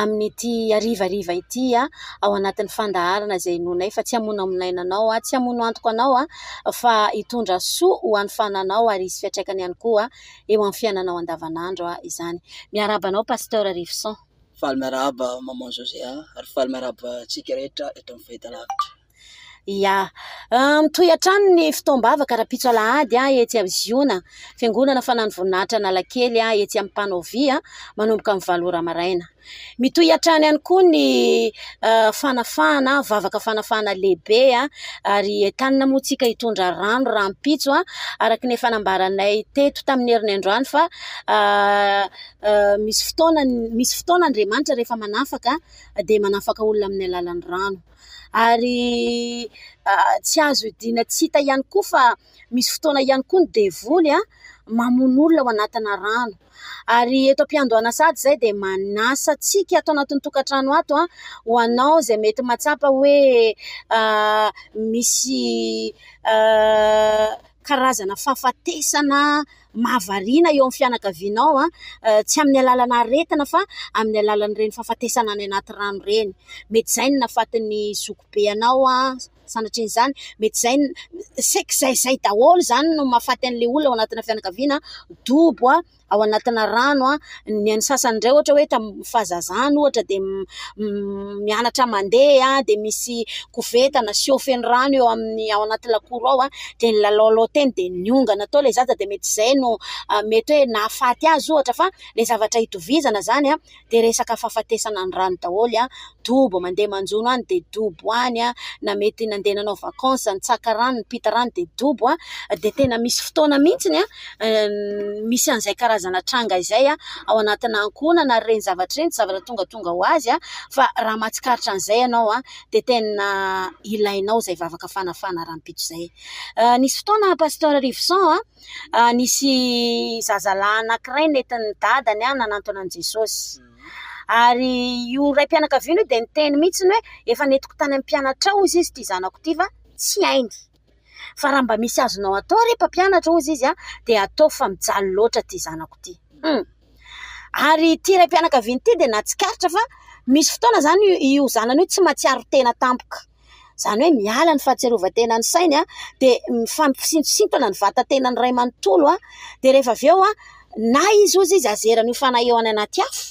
amin'ity harivariva ity ao anatin'ny fandaharana izay inoanay fa tsy hamonamonaina anao, tsy hamono antoka anao fa hitondra soa ho an'ny fananao ary hisy fiantraikany ihany koa eo amin'ny fiainanao andavanandro izany. Miarahaba anao Pasteur Revison. Faly miarahaba Maman José ary faly miarahaba antsika rehetra eto amin'ny fahitalavitra. Ia. Mitohy hatrany ny fotoam-bavaka rahampitso alahady etsy amin'ny Ziona, Fiangonana Fanan'ny Voninahitra Analakely etsy amin'ny Pannovia, manomboka amin'ny valo ora maraina. Mitohy hatrany ihany koa ny fanafahana, vavaka fanafahana lehibe ary entanina moa isika hitondra rano rahampitso araka ny efa nambaranay teto tamin'ny herin'ny androany fa misy fotoana, misy fotoana Andriamanitra rehefa manafaka dia manafaka olona amin'ny alalan'ny rano. Ary tsy azo idiana tsy hita ihany koa fa misy fotoana ihany koa ny devoly mamono olona ao anatina rano. Ary eto am-piandohana sady izay dia manasa antsika ato anatin'ny tokantrano ato ho anao izay mety mahatsapa hoe misy karazana fahafatesana. mahavariana eo amin'ny fianakavianao, tsy amin'ny alalana aretina fa amin'ny alalan'ireny fahafatesana any anaty rano ireny, mety izay no nahafatin'ny zokibe anao, sanatria izany mety izay, saika izay izay daholo izany no mahafaty an'ilay olona ao anatina fianakaviana, dobo ao anatina rano. Ny an'ny sasany indray ohatra hoe tamin'ny fahazazany ohatra dia mianatra mandeha dia misy koveta na siô feno rano eo amin'ny ao anaty lakoro ao dia nilalaolao teny dia niongana tao ilay zaza dia mety izay no mety hoe nahafaty azy ohatra fa ilay zavatra itovizana izany dia resaka fahafatesana ny rano daholo dobo mandeha manjono any dia dobo any na mety nandeha nanao vakansy nitsaka rano nipita rano dia dobo dia tena misy fotoana mihitsy ny misy an'izay karazana tranga izay ao anatina ankohonana ary ireny zavatra ireny tsy zavatra tongatonga ho azy aho fa raha mahatsikaritra an'izay ianao aho dia tena ilainao izay vavaka fanafana rahampitso izay nisy fotoana pasteur rivoson aho nisy zazalahy anankiray netin'ny dadany aho nanantona an'i jesosy ary io raim-pianakaviana io dia niteny mihitsy hoe efa nentiko tany amin'ny mpianatra ao hozy izy ity zanako ity fa tsy hainy fa raha mba misy azonao atao re mpampianatra hozy izy aho dia ataovy fa mijaly loatra ity zanako ity ary ity raim-pianakaviana ity dia nahatsikaritra fa misy fotoana izany io zanany io tsy mahatsiaro tena tampoka izany hoe miala ny fahatsiarovantena ny sainy dia mifampisitontsitona ny vatantenan'ny iray manontolo dia rehefa avy eo na izy ozy izy azerany ho fanahy eo any anaty afo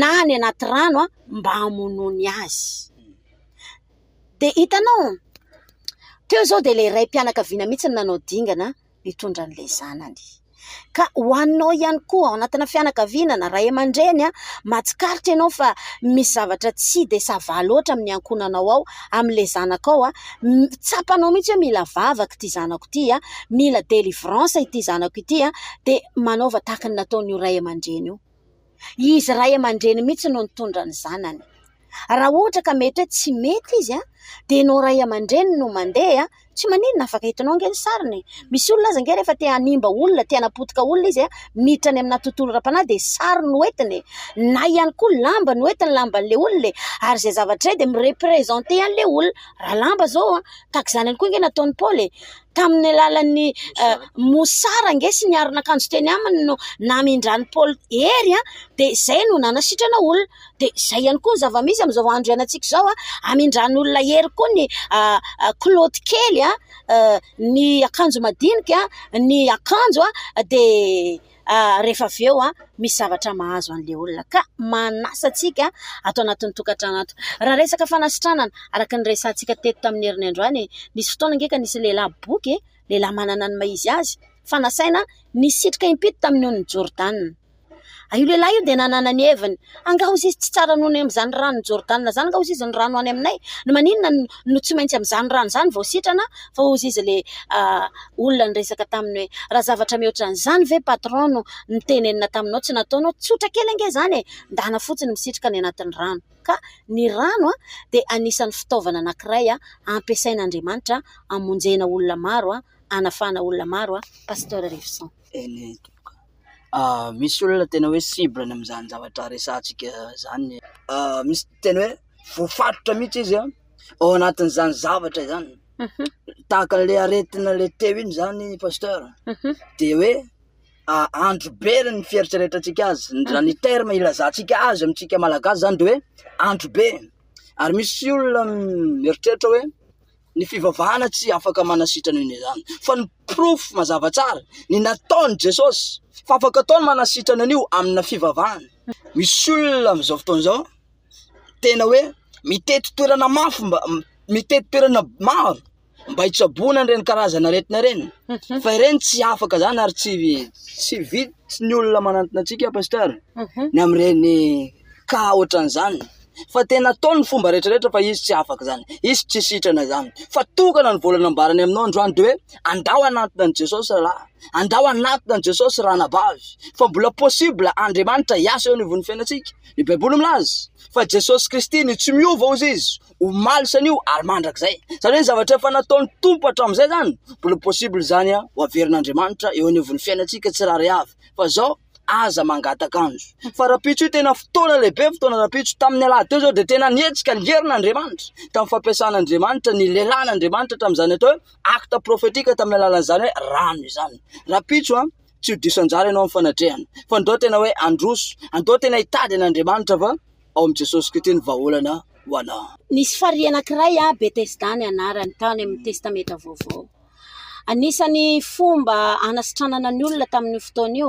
na any anaty rano mba hamonoany azy dia hitanao toy izao dia ilay raim-pianakaviana mihitsy ny nanao dingana mitondra an'ilay zanany. Ka ho anao ihany koa ao anatina fianakaviana na ray aman-dreny, mahatsikaritra ianao fa misy zavatra tsy de ça va loatra amin'ny ankohonanao ao, amin'ilay zanakao, tsapanao mihitsy hoe mila vavaka ity zanako ity, mila délivrance ity zanako ity dia manaova tahaka ny nataon'io ray aman-dreny io. Izy ray aman-dreny mihitsy no nitondra ny zanany. Raha ohatra ka mety hoe tsy mety izy dia ianao ray aman-dreny no mandeha, tsy maninona, afaka hitanao ange ny sariny e ! Misy olona aza ange rehefa te hanimba olona, te hanapotika olona izy, miditra any aminà tontolo ara-panahy dia sary no entiny e ! Na ihany koa lamba no entiny, lamban'ilay olona e ! Ary izay zavatra izay dia mi-representer an'ilay olona. Raha lamba izao, tahaka izany ihany koa ange nataon'i Paoly e ! Tamin'ny alalan'ny mosara ange sy ny aron'akanjo teny aminy no namindran'i Paoly hery dia izay no nanasitrana olona. Dia izay ihany koa ny zava-misy amin'izao andro iainantsika izao, hamindran'olona hery koa ny kilaoty kely, ny akanjo madinika, ny akanjo dia... rehefa avy eo misy zavatra mahazo an'ilay olona ka manasa antsika ato anatin'ny tokantrano ato. Raha resaka fanasitranana, araka ny resahantsika teto tamin'ny herin'ny androany, nisy fotoana ange ka nisy lehilahy boky, lehilahy manana ny maha izy azy fa nasaina nisitrika im-pito tamin'ny ony Jordana. Io lehilahy io dia nanana ny heviny. Angaha hozy izy tsy tsara noho ny amin'izany ranon'i Jordana izany? Angaha hozy izy ny rano any aminay no maninona no tsy maintsy amin'izany rano izany vao sitrana? Fa hozy izy ilay olona niresaka taminy hoe, Raha zavatra mihoatra an'izany ve patron no nitenenina taminao tsy nataonao? Tsotra kely ange izany e! Ndana fotsiny misitrika any anatin'ny rano. Ka ny rano dia anisan'ny fitaovana anankiray ampiasain'Andriamanitra hamonjena olona maro, hanafahana olona maro Pasteur Revison. misy olona tena hoe cible ny amin'izany zavatra resahantsika izany, misy tena hoe voafaritra mihitsy izy an, ao anatin'izany zavatra izany, tahaka an'le aretina le teo iny zany pasteur de hoe andro be re ny fieritreretantsika azy, raha ny terme ilazantsika azy amintsika Malagasy zany de hoe andro be, ary misy olona mieritreritra hoe. Ny fivavahana tsy afaka manasitrana io na izany, fa ny porofo mazava tsara ny nataon'i Jesosy fa afaka atao ny manasitrana an'io amina fivavahana. Misy olona amin'izao fotoana izao tena hoe mitety toerana mafy mba mitety toerana maro mba hitsaboana an'ireny karazana aretina ireny mhm. fa ireny tsy afaka izany ary tsy tsy vitsy ny olona manantona antsika pasteur mhm. ny amin'ireny ka ohatran'izany fa tena atao ny fomba rehetra rehetra fa izy tsy afaka izany, izy tsy sitrana izany fa tokana ny vola nambarany aminao androany dia hoe andao hanantona an'i Jesosy rahalahy, andao hanantona an'i Jesosy ranabavy fa mbola possible Andriamanitra hiasa eo anivon'ny fiainantsika, ny baiboly milaza fa Jesosy Kristy no tsy miova hozy izy omaly sy anio ary mandrakizay, izany hoe ny zavatra efa nataon'ny Tompo hatramin'izay izany mbola possible izany ho averin'Andriamanitra eo anivon'ny fiainantsika tsirairay avy fa izao. aza mangataka anjo fa rahampitso io tena fotoana lehibe fotoana rahampitso tamin'ny alahady teo zao dia tena nihetsika nierina Andriamanitra tamin'ny fampiasana Andriamanitra ny lelan'ny Andriamanitra tamin'izany atao hoe acte prophetique tamin'ny alalan'izany hoe rano izany rahampitso an tsy ho diso anjara ianao amin'ny fanatrehan fa ndao tena hoe androso andao tena hitady an'Andriamanitra fa ao amin'i Jesosy Kristy ny vahaolana ho anao nisy farihy anankiray an Betesda ny anarany tany amin'ny testamenta vaovao Anisan'ny fomba hanasitranana ny olona tamin'io fotoana io,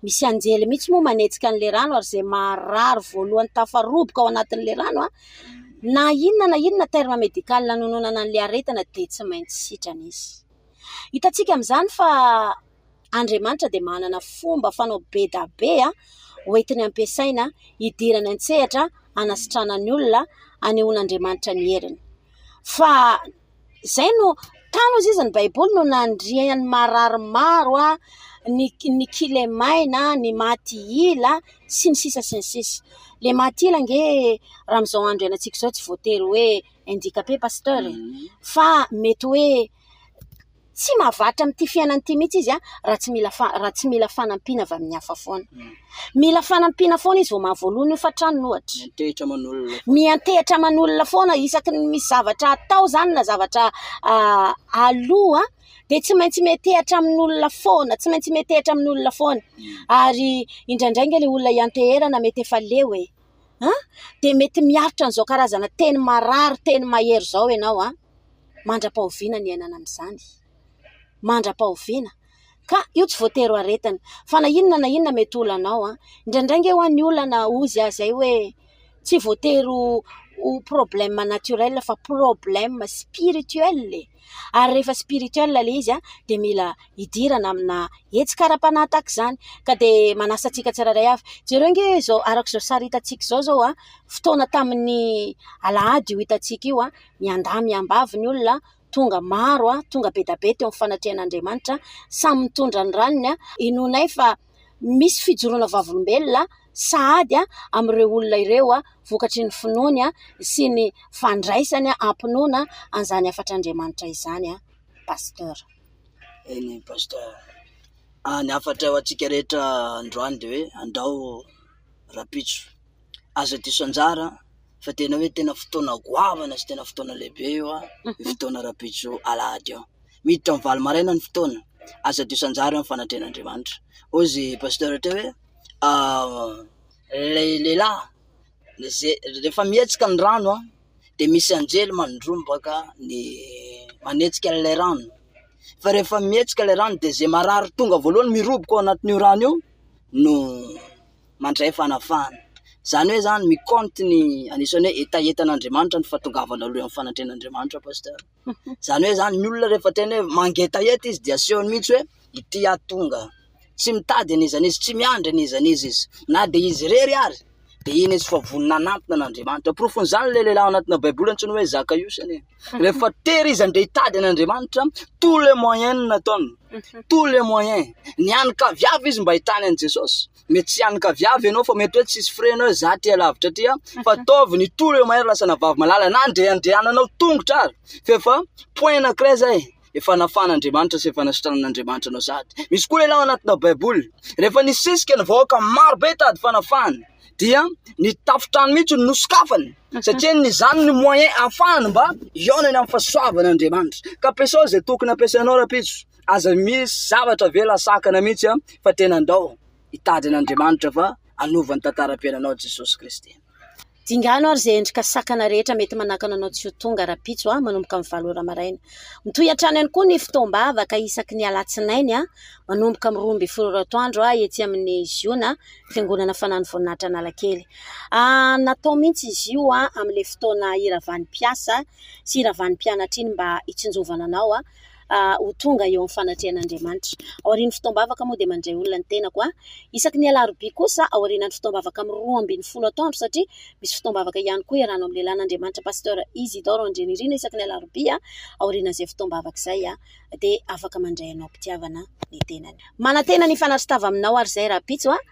misy anjely mihitsy moa manetsika an'ilay rano ary izay marary voalohany tafaroboka ao anatin'ilay rano, na inona na inona terme médical nanononana an'ilay aretina dia tsy maintsy sitrana izy. Hitantsika amin'izany fa Andriamanitra dia manana fomba fanao be dia be hoentiny ampiasaina hidirany an-tsehatra hanasitranany olona, hanehoan'Andriamanitra ny heriny fa... Izay no, tano hoy izy ny baiboly no nandria ny marary maro, ny ny kilemaina, ny maty ila sy ny sisa sy ny sisa. Le maty ila ange raha amin'izao andro ianantsika izao tsy voatery hoe indicape pasteur e! fa mety hoe tsy mahavatra amin'ity fiainana ity mihitsy izy raha tsy mila raha tsy mila fanampiana avy amin'ny hafa foana. Mila fanampiana foana izy vao mahavoaloa ny hofan-tranony ohatra. Miantehitra aman'olona. Miantehitra aman'olona foana isaky ny misy zavatra atao izany na zavatra aloha dia tsy maintsy miantehitra amin'olona foana, tsy maintsy miantehitra amin'olona foana. Ary indraindray ange ilay olona ianteherana mety efa leo e! Dia mety miaritra an'izao karazana teny marary, teny mahery izao ianao an! mandra-pahoviana ny iainana amin'izany? Mandra-pahoviana? Ka io tsy voatery ho aretina, fa na inona na inona mety ho olanao. Indraindray ange ho'a ny olana hozy ahy izay hoe tsy voatery ho problème naturel fa problème spirituel e! ary rehefa spirituel ilay izy dia mila hidirana amina hetsika ara-panahy tahaka izany. Ka dia manasa antsika tsirairay avy, jereo ange izao, araka izao sary hitantsika izao izao, fotoana tamin'ny alahady io hitantsika io. Miandahy miambavy ny olona, tonga maro, tonga be dia be teo amin'ny fanatrehan'Andriamanitra, samy mitondra ny raniny. Inoanay fa misy fijoroana vavolombelona sahady amin'ireo olona ireo vokatry ny finoany sy ny fandraisany am-pinoana an'izany hafatr'Andriamanitra izany, Pasteur. Eny, Pasteur. Ny hafatra ho antsika rehetra androany dia hoe andao rahampitso, aza diso anjara. fa tena hoe tena fotoana goavana sy tena fotoana lehibe io an, io fotoana rahampitso alahady io. Miditra amin'ny valo maraina ny fotoana, aza adio sanjary amin'ny fanatrehan'Andriamanitra. Hoy izy pasteur teo hoe ilay lehilahy ze- rehefa mihetsika ny rano an, dia misy anjely mandrombaka ny manetsika an'ilay rano, fa rehefa mihetsika ilay rano dia ze marary tonga voalohany miroboka ao anatin'io rano io no mandray fanavahana. Izany hoe izany mi compte ny anisan'ny hoe hetahetan'Andriamanitra ny fahatongavanao aloha amin'ny fanatrehan'Andriamanitra Pasteur. Izany hoe izany ny olona rehefa tena hoe mangetaheta izy dia asehony mihitsy hoe ity aho tonga. Tsy mitady an'iza n'iza, tsy miandry an'iza n'iza izy. Na dia izy irery ary dia iny izy fa vonona hanantona an'Andriamanitra. Porofon'izany ilay lehilahy ao anatina Baiboly antsoina hoe Zakaiosy anie. Rehefa tery izy handeha hitady an'Andriamanitra, tous les moyens no nataony, tous les moyens. Nianinkavy avy izy mba hahitana an'i Jesosy. mety tsy hiankavy avy ianao fa mety hoe tsisy freno hoe za ty alavitra ty an, fa ataovy ny tour eo mahery lasa navavy malala na andrehandrehananao tongotra ary fa efa point anankiray zay efa nafan'Andriamanitra sy efa nasitranan'Andriamanitra anao sady misy koa lehilahy ao anatina baiboly rehefa nisisika ny vahoaka maro be tady fanafahana dia ny tafontrano mihitsy no nosokafany satria ny izany ny moyen ahafahany mba hihaonany amin'ny fahasoavan'Andriamanitra ka ampiasao izay tokony ampiasainao rahampitso Aza misy zavatra avela sakana mihitsy fa tena andao hitady an'Andriamanitra fa hanova ny tantaram-piainanao Jesosy Kristy. Dingano ary izay endrika sakana rehetra mety manakana anao tsy ho tonga rahampitso manomboka amin'ny valo ora maraina. Mitohy hatrany ihany koa ny fotoam-bavaka isaky ny alatsinainy manomboka amin'ny roa ambin'ny folo ora atoandro etsy amin'ny Ziona Fiangonana Fanano Voninahitra Analakely. Natao mihitsy izy io amin'ilay fotoana hiravan'ny mpiasa sy hiravan'ny mpianatra iny mba hitsinjovana anao. ho tonga eo amin'ny fanatrehan'Andriamanitra. Aorian'ny fotoam-bavaka moa dia mandray olona ny tenako. Isaky ny alarobia kosa aorianan'ny fotoam-bavaka amin'ny roa ambin'ny folo atoandro satria misy fotoam-bavaka ihany koa iarahana amin'ny lehilahin'Andriamanitra Pasteur Isidore Andrianirina isaky ny alarobia aorianan'izay fotoam-bavaka izay dia afaka mandray anao am-pitiavana ny tenany. Manantena ny hifanatri-tava aminao ary izay Rahampitso a!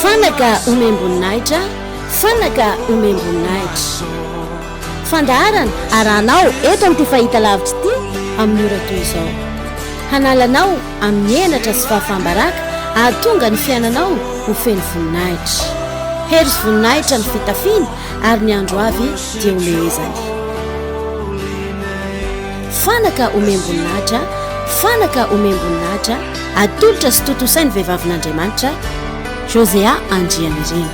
Fanaka omem-boninahitra, fanaka omem-boninahitra. Fandaharana arahanao eto amin'ity fahitalavitra ity amin'ny ora toy izao. Hanala anao amin'ny henatra sy fahafaham-baraka hahatonga ny fiainanao ho feno voninahitra. Hery sy voninahitra ny fitafiana ary ny andro avy dia homehezany. Fanaka omem-boninahitra, fanaka omem-boninahitra, atolotra sy tontosain'ny vehivavin'Andriamanitra, Josea Andrianirina.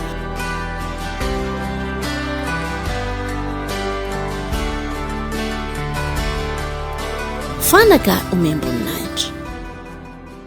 Fanaka omem-boninahitra.